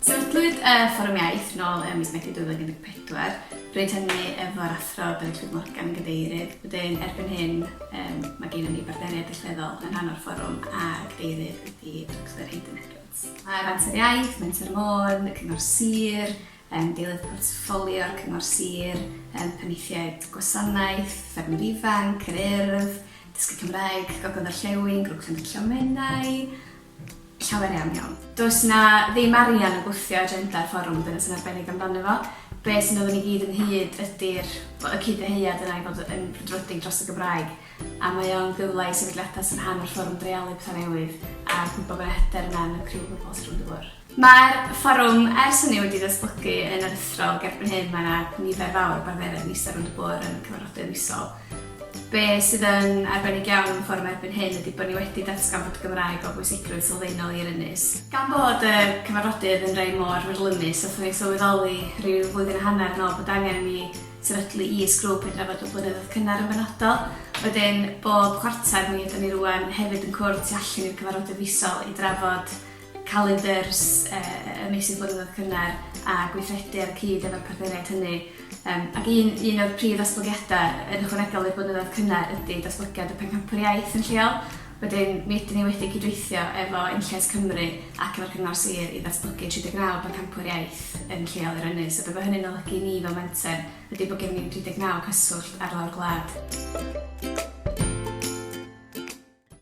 Sefydlwyd y Fforwm Iaith nôl ym mis Medi 2014, bryd hynny efo'r Athro Delyth Llwyd Morgan yn Gadeirydd. Wedyn, erbyn hyn, um, mae gennym ni bartneriaid allweddol yn rhan o'r fforwm a Gadeirydd ydy Dr Hayden Edwards. Mae Menter Iaith, Menter Môn, Cyngor Sir, yn dilyn portffolio'r Cyngor Sir, yn Penaethiaid Gwasanaeth, Ffermwyr Ifanc, Yr Urdd, Dysgu Cymraeg, Gogledd Orllewin, Grŵp Cenedl Llomenau, llawer iawn iawn. Does 'na ddim arian yn gwthio agenda'r fforwm, dyna sy'n arbennig amdano fo. Be' sy'n dod â ni gyd ynghyd ydi'r, wel, y cyd-ddyhead yna i fod yn frwdfrydig dros y Gymraeg, a mae o'n gyfle i sefydliadau sy'n rhan o'r fforwm dreialu petha newydd a gwbo bo' 'na hyder yna yn y criw o bobl sy rownd y bwrdd. Mae'r fforwm ers hynny wedi datblygu yn aruthrol ac erbyn hyn mae 'na nifer fawr o bartneriaid yn eistedd rownd y bwr' yn cyfarfodydd misol. Be' sydd yn arbennig iawn am y fforwm erbyn hyn ydi bo' ni wedi datgan bod y Gymraeg o bwysigrwydd sylfaenol i'r ynys. Gan bod y cyfarfodydd yn rei mor fyrlymus nathon ni sylweddoli ryw flwyddyn a hanner yn ôl bod angen i ni sefydlu is-grŵp i drafod y blynyddoedd cynnar yn benodol. Wedyn bob chwarter mi ydan ni rŵan hefyd yn cwrdd tu allan i'r cyfarfodydd fisol i drafod calendars y meysydd blynyddoedd cynnar a gweithredu ar y cyd efo'r partneriaid hynny, ac un un o'r prif ddatblygiadau yn ychwanegol i'r blynyddoedd cynnar ydy datblygiad y Pencampwr Iaith yn lleol. Wedyn, mi ydyn ni wedi cydweithio efo Enlles Cymru ac efo'r Cyngor Sir i ddatblygu 39 Bencampwr Iaith yn lleol i'r ynys, a be' ma' hynny'n olygu i ni fel menter ydy bod gennyn ni 39 cyswllt ar lawr gwlad.